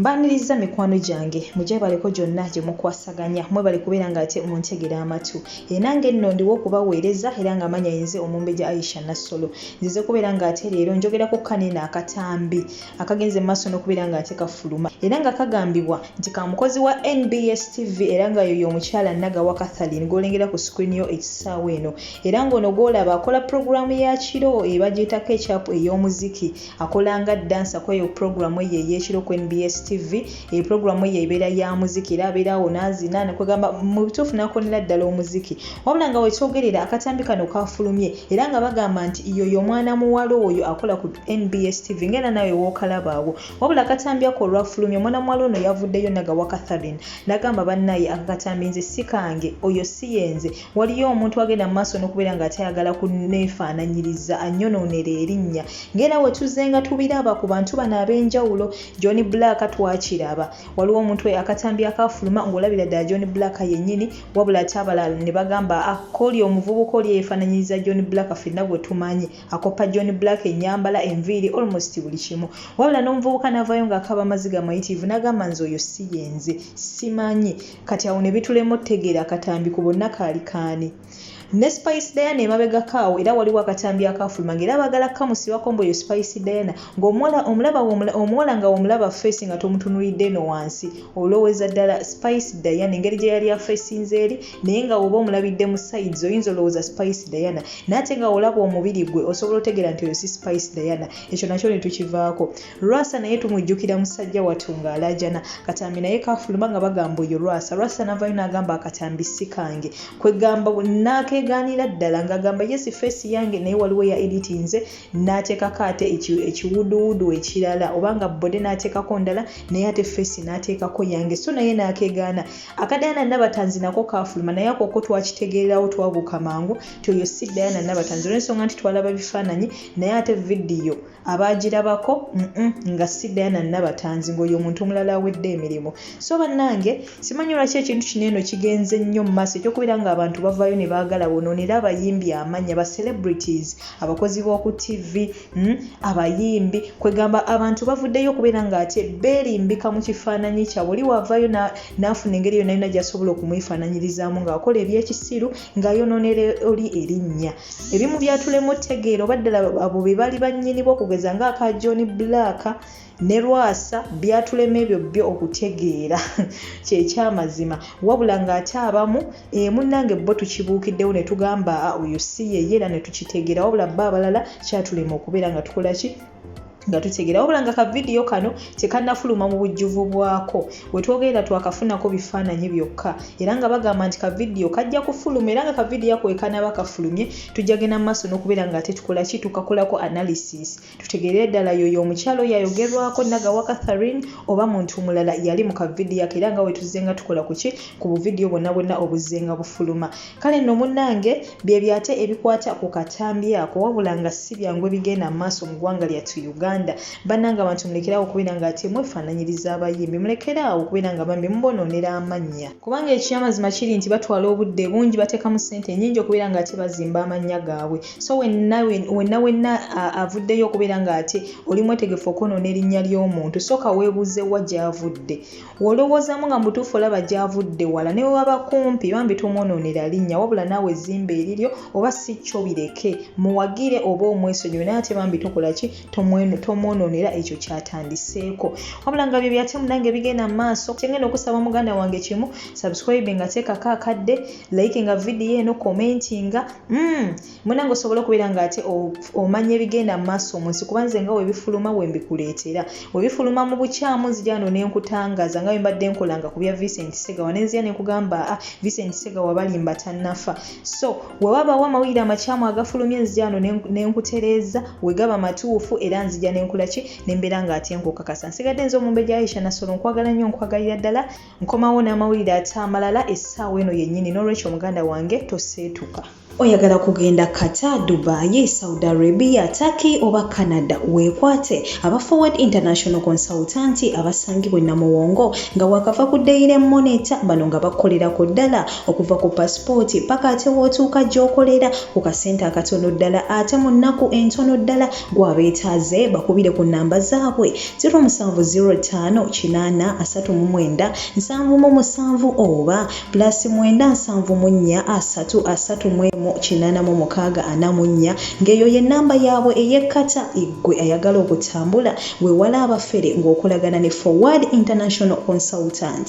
Mbaniriza mikwano gyange mugyebaleko gyonna gye mukwasaganya mwebale kubeera nga ate muntegera amatu era nange nno ndiwo okubaweereza era nga amanya yenze omumbejja Aisha Nassolo nzize kubeera nga ate leero njogera ku kano eno akatambi akagenze maaso n'okubeera nga ate kafuluma era nga kagambibwa nti ka mukozi wa NBS TV era nga yoyo omukyala Nagawa Catherine gw'olengera ku screen yo ekisaawa eno era ng'ono gw'olaba akola pulogulaamu ya kiro ebagyetako ekyapu ey'omuziki Akola nga dansa ku eyo pulogulaamu ye ey'ekiro ku nbs TV. Eyo pulogulaamu ye ebeera ya muziki era abeera awo n'azina ne kwegamba mu bituufu n'akoonera ddala omuziki. Wabula nga we twogerera akatambi kano kaafulumye era nga bagamba nti y'oyo omwana muwala oyo akola ku nbs TV ng'era naawe w'okalaba awo. Wabula akatambi ako olwafulumye omwana muwala ono yavuddeyo nagawa Catherine n'agamba bannaaye ako akatambi nze si kange, oyo si ye nze. waliyo omuntu agenda mu maaso n'okubeera nga ate ayagala kuneefaananyiriza anyonoonera erinnya ng'era we tuzze nga tubiraba ku bantu bano ab'enjawulo john black twakiraba waliwo omuntu akatambi akaafuluma ng'olabira ddala john black yennyini wabula ate abalala ne bagamba akoli ah, omuvubuka oli eyeefaananyiriza john black fenna gwe tumanyi akoppa john black ennyambala enviiri almost buli kimu wabula n'omuvubuka n'avaayo ng'akaaba amaziga mayitiivu n'agamba nze oyo si yenze simanyi kati awo ne bitulema otegeera akatambi ku bonna kaali kaani ne spice diana emabegako awo era waliwo akatambi akafuluma nga era baagala kukamusibako mbu eyo spice diana ngaomuwala omulaba omuwala nga womulaba face nga tomutunulidde eno wansi olowooza ddala spice diana engeri gye yali afesinze eri naye nga woba omulabidde mu sides oyinza olowooza spice diana naye ate nga olaba omubiri gwe osobola otegeera nti oyo si spice diana ekyo nakyo ne tukivaako Lwasa naye tumujjukira musajja wattu ng'alaajana Katambi naye kaafuluma nga bagamba oyo Lwasa. Lwasa n'avaayo n'agamba akatambi si kange. Kwegamba n'akeegaanira ddala ng'agamba yes face yange naye waliwo ya editinze n'ateekako ate ekiwuduwudu ekirala oba nga bode n'ateekako ndala naye ate face n'ateekako yange so naye n'akeegaana. Aka Diana Nabatanzi nako kaafuluma naye akoko twakitegeererawo twabuuka mangu nti oyo si Diana Nabatanzi olw'ensonga nti twalaba bifaananyi naye ate vidiyo abaagirabako nga si diana nabatanzi ngaoyo omuntu omulala awedde emirimu so bannange simanyi lwaki ekintu kino eno kigenze nnyo mu maaso ekyokubeera nga abantu bavaayo ne baagala bonoonera abayimbi amanya ba celebrities abakozi b'oku tv mm, abayimbi kwegamba abantu bavuddeyo okubeera nga ate beerimbika mu kifaananyi kyabwe oli waavaayo n'afuna engeri yonna yona gyasobola okumwefaananyirizamu ng'akola ebyekisiru ng'ayonoonera oli erinnya ebimu byatulemu otegeera oba ddala abo be baali bannyinibo okugeza ng'aka john black ne lwasa byatulema ebyo byo okutegeera kyekyamazima wabula ng'ate abamu eh, munnange bo tukibuukiddewo ne tugamba ah, oyo si yeye era ne tukitegeera wabula bo abalala kyatulema okubeera nga tukola ki nga tutegeera wabula nga kavidiyo kano tekanafuluma mu bujjuvu bwako wetwogerera twakafunako bifaananyi byokka era nga bagamba nti kavidiyo kajja kufuluma era nga kavidiyo ako wekanaba kafulumye tujja genda mu maaso n'okubeera nga ate tukola ki tukakolako analysis tutegeerere ddala yoyo omukyalo yayogerwako nagawa catherine oba muntu mulala yali mu kavidiyo ako era nga wetuzzenga tukola ku ki ku buvidiyo bwonna bwonna obuzzenga bufuluma Kale nno munnange byebyo ate ebikwata ku katambi ako wabula nga si byangu ebigenda mu maaso mu ggwanga lyattu Uganda. Bannange abantu mulekeraawo okubeera nga ate mwefaananyiriza abayimbi, mulekeraawo okubeera nga bambi mubonoonera amannya. Kubanga eky'amazima kiri nti batwala obudde bungi, bateekamu ssente nnyingi okubeera nga ate bazimba amannya gaabwe. So wenna wenna wenna avuddeyo okubeera nga ate oli mwetegefu okwonoona erinnya ly'omuntu, sooka weebuuze wa gy'avudde. Wolowoozamu nga mutuufu olaba gy'avudde wala ne bwe waba kumpi bambi tomwonoonera linnya wabula naawe ezzimba eriryo oba si kyo bireke muwagire oba omwesonyiwe naye ate bambi tokola ki tomwonoonera ekyo kyatandiseeko wabula nga bye byatemu nange bigenda mu maaso kyengenda okusaba muganda wange kimu subscribe nga teekako akadde like nga vidiyo eno commenti nga mm. munange osobola okubeera nga ate omanya ebigenda mu maaso mu nsi kuba nze nga webifuluma wembikuleetera webifuluma mu bukyamu nzija wano nenkutangaza nga wembadde nkolanga ku bya vincent segawa nenzija nenkugamba a ah, vincent segawa balimba tannafa so wewabawo amawulire amakyamu agafulumye nzija wano nenkutereeza wegaba matuufu era nzija nenkula ki nembeera nga ate nkukakasa nsigadde nze omumbe gya aisha nasolo nkwagala nnyo nkwagalira ddala nkomawo n'amawulire ate amalala essaawa eno yennyini n'olwekyo muganda wange toseetuka oyagala kugenda qatar dubai saudi arabia turkey oba canada weekwate aba forward international consultant abasangibwa enamuwongo nga wakava ku daire monita bano nga bakolera ku ddala okuva ku pasipooti paka ate wootuuka gy'okolera ku kasente akatono ddala ate mu nnaku entono ddala gw'abeetaaze bakubire ku nnamba zaabwe 0705 839 77 oba plus mwenda nsanvu mu nnya asatu asatu mu emu kinaana mu mukaaga ana mu nnya ng'eyo ye nnamba yaabwe ey'ekkata eggwe ayagala okutambula weewala abafere ng'okolagana ne forward international consultant